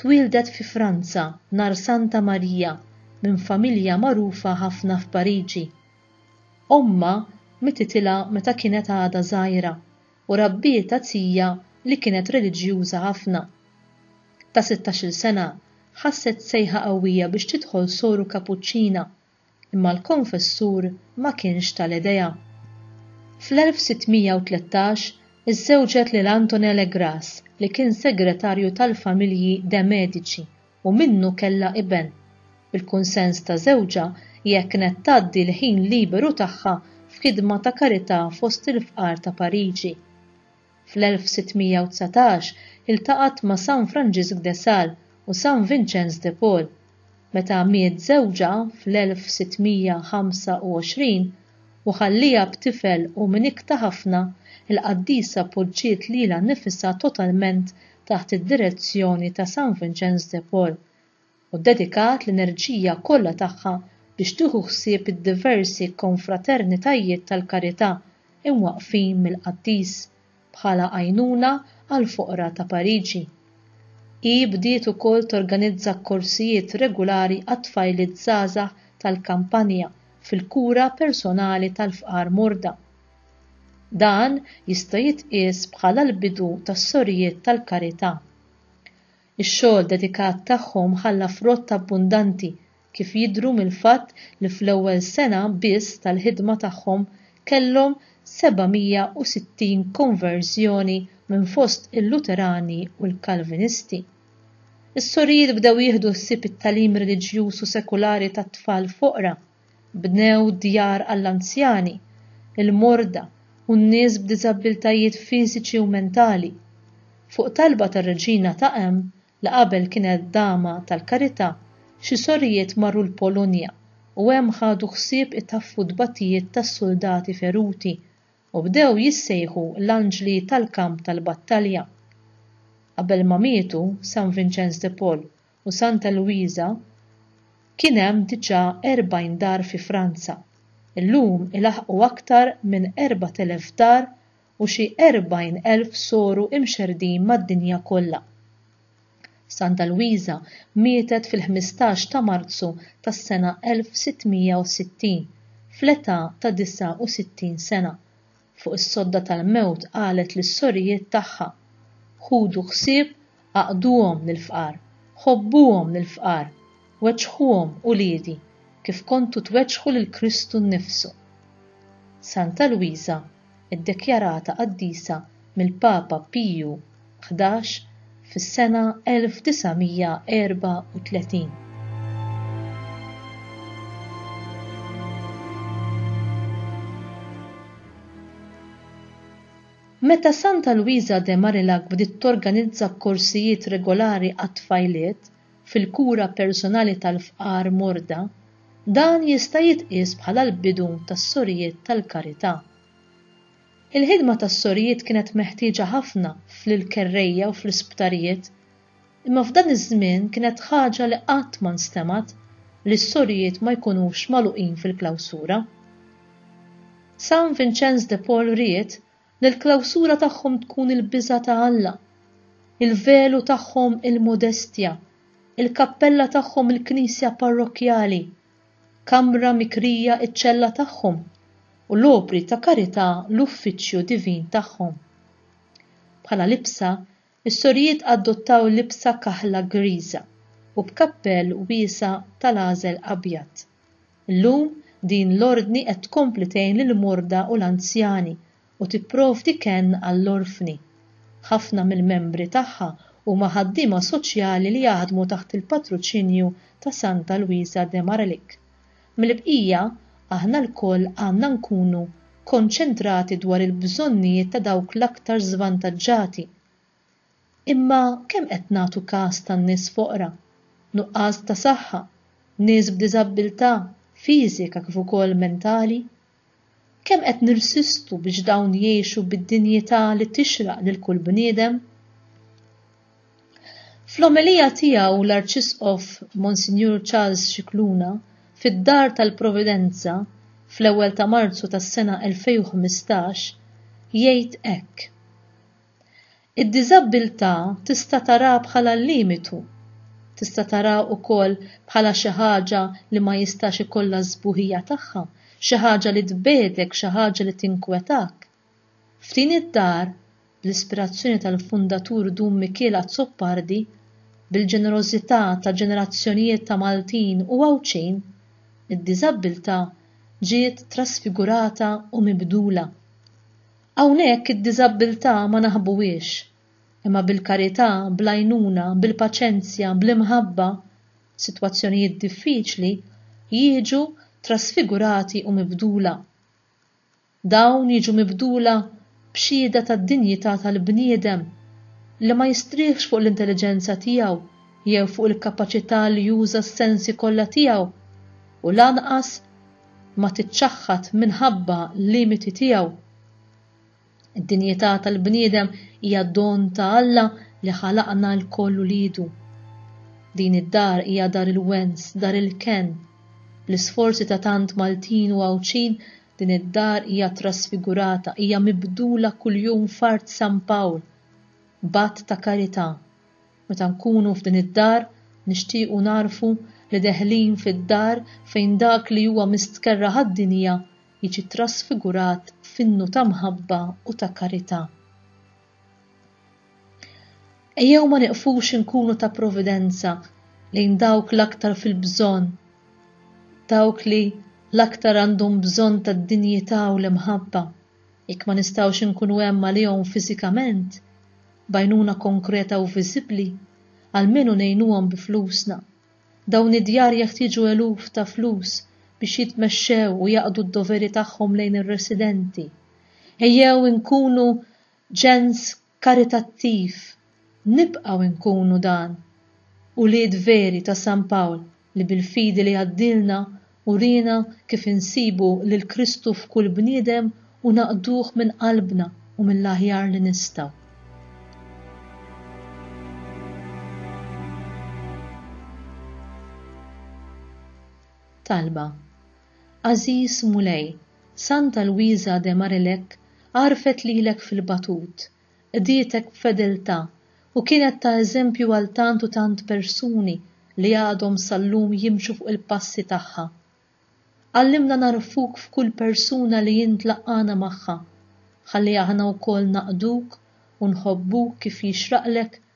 Twieldet fi Franza nhar Santa Marija minn familja magħrufa ħafna f'Pariġi. Ommha mititilha meta kienet għadha żgħira u rabbietha tija li kienet reliġjuża ħafna. Ta' sittax-il sena ħasset sejħa qawwija biex tidħol soru kapuċċina imma l-konfessur ma kienx tal-idea. Fl-1613 iżżewġet lil Antonin Le Gras li kien segretarju tal-familji de' Medici u minnu kellha iben. Bil-kunsens ta' żewġha hija kienet tgħaddi l-ħin liberu tagħha f'ħidma ta' karità fost il-fqar ta' Pariġi. Fl-1619 iltaqgħet ma' San Franġisk de Sales u San Vinċenz de Paul. Meta miet żewġha fl-1625 u ħallieha b'tifel u minn ikta ħafna, il-qaddisa poġġiet lilha nnifisha totalment taħt id-direzzjoni ta' San Vinċenz de Paul, u ddedikat l-enerġija kollha tagħha biex tieħu ħsieb id-diversi konfraternitajiet tal-karità imwaqqfin mill-qaddis bħala għajnuna għall-foqra ta' Pariġi. Hi bdiet ukoll torganizza korsijiet regulari għat-tfajliet żgħażagħ tal-kampanja fil-kura personali tal-fqar morda. Dan jista' jitqies bħala l-bidu tas-Sorijiet tal-Karità. Ix-xogħol dedikat tagħhom ħalla frott abbundanti, kif jidhru mill-fatt li fl-ewwel sena biss tal-ħidma tagħhom kellhom 760 konverżjoni minn fost il-Luterani u l-Kalvinisti. Is-sorijiet bdew jieħdu ħsieb it-tagħlim reliġjuż u sekulari tat-tfal foqra. Bnew djar għall-anzjani, il-morda u n-nies b'diżabbiltajiet fiżiċi u mentali. Fuq talba tar-Reġina ta' Em, li qabel kienet Dama tal-Karità, xi sorijiet marru l-Polonja u hemm ħadu ħsieb itaffu t-tbatijiet tas-suldati feruti u bdew jissejħu l-anġli tal-kamp tal-battalja. Qabel ma mietu, San Vinċenz de Paul u Santa Luisa kien hemm diġà 40 dar fi Franza, illum ilaħħqu aktar minn 4,000 dar u xi 40,000 soru imxerrdin mad-dinja kollha. Santa Luisa mietet fil-ħmistax ta' Marzu tas-sena 1660 fl-età ta' 69 sena. fuq is-sodda tal-mewt qalet lis-sorijiet tagħha, Ħudu ħsieb għaqduhom lill-fqar, ħobbuhom lill-fqar, weġġħuhom uliedi, kif kontu tweġġħu lil Kristu nnifsu. Santa Lwiża, iddekjarata qaddisa mill-Papa Piju ħdax fis-sena 1934. Meta Santa Luisa de Marillac bdiet torganizza korsijiet regolari għat-tfajliet fil-kura personali tal-fqar morda, dan jista' jitqies bħala l-bidu tas-Sorijiet tal-Karità. Il-ħidma tas-sorijiet kienet meħtieġa ħafna fl-kerrejja u fl-isptarijiet, imma f'dan iż-żmien kienet ħaġa li qatt ma nstemgħet li s-sorijiet ma jkunux magħluqin fil-klawsura. San Vinċenz de Paul ried li l-klawsura tagħhom tkun il-biża' ta' Alla, il-velu tagħhom il-modestja, il-kappella tagħhom il-knisja parrokkjali, kamra mikrija ċ-ċella tagħhom, u l-opri ta' karità l-uffiċċju divin tagħhom. Bħala libsa, is-sorijiet adottaw libsa kaħla griża u b'kappell wiesa' tal-għażel abjad. Illum din l-Ordni qed tkompli tgħin lill-morda u l-anzjani u tipprovdi kenn għall-orfni. Ħafna mill-membri tagħha huma ħaddiema soċjali li jaħdmu taħt il-patruċinju ta' Santa Luisa de Maralik. Mill-bqija, aħna lkoll għandna nkunu konċentrati dwar il-bżonnijiet ta' dawk l-aktar żvantaġġati. Imma kemm qed nagħtu kas tan-nies foqra, nuqqas ta' saħħa, nies b'diżabbiltà fiżika kif ukoll mentali? Kemm qed nirsistu biex dawn jgħixu bid-dinjità li tixraq lil kull bniedem? Fl-omelija tiegħu l-Arċisqof Monsinjur Charles Scicluna fid-Dar tal-Providenza fl-ewwel ta' Marzu tas-sena 2015 jgħid hekk, Id-diżabbiltà tista' taraha bħala limitu. Tista' taraha wkoll bħala xi ħaġa li ma jistax ikollha s-sbuħija tagħha, xi ħaġa li tbegħdek, xi ħaġa li tinkwetak. F'din id-dar, bl-ispirazzjoni tal-fundatur Dun Mikiel Azzopardi, bil-ġenerożità ta' ġenerazzjonijiet ta' Maltin u Għawdxin, id-diżabbiltà ġiet trasfigurata u mibdula. Hawnhekk id-diżabbiltà ma naħbuhiex, imma bil-karità, bl-għajnuna, bil-paċenzja, bl-imħabba, sitwazzjonijiet diffiċli jiġu trasfigurati u mibdula. Dawn jiġu mibdula b'xhieda tad-dinjità tal-bniedem li ma jistrieħx fuq l-intelliġenza tiegħu jew fuq il-kapaċità li juża s-sensi kollha tiegħu u lanqas ma tiċċaħħad minħabba l-limiti tiegħu. Id-dinjità tal-bniedem hija don ta' Alla li ħalaqna lkoll uliedu. Din id-dar hija dar il-wens, dar il-kenn. Bl-isforzi ta' tant Maltin u Għawdxin, din id-dar hija trasfigurata, hija mibdula kuljum f'art San Pawl, b'att ta' karità. Meta nkunu f'din id-dar, nixtiequ nagħrfu li deħlin fid-dar fejn dak li huwa mistkerrha għad-dinja jiġi trasfigurat f'innu ta' mħabba u ta' karità. Ejjew ma nieqfux inkunu ta' providenza lejn dawk l-aktar fil-bżonn, dawk li l-aktar għandhom bżonn tad-dinjità u l-imħabba. Jekk ma nistgħux inkunu hemm għalihom fiżikament, b'għajnuna konkreta u viżibbli, almenu ngħinuhom bi flusna. Dawn id-djar jeħtieġu eluf ta' flus biex jitmexxew u jaqdu d-doveri tagħhom lejn ir-residenti. Ejjew inkunu ġens karitattiv nibqgħu nkunu dan, ulied veri ta' San Pawl li bil-fidi li għaddielna uriena kif insibu lil Kristu f'kull bniedem u naqduh minn qalbna u mill-aħjar li nistgħu. Talba, Għażiż Mulej, Santa Luisa de Marilec għarfet lilek fil-batut, qdietek b'fedeltà u kienet ta' eżempju għal tant u tant persuni li għadhom sal-lum jimxu fuq il-passi tagħha. Għallimna nagħrfuk f'kull persuna li int laqqagħna magħha, ħalli aħna wkoll naqduk u nħobbuk kif jixraqlek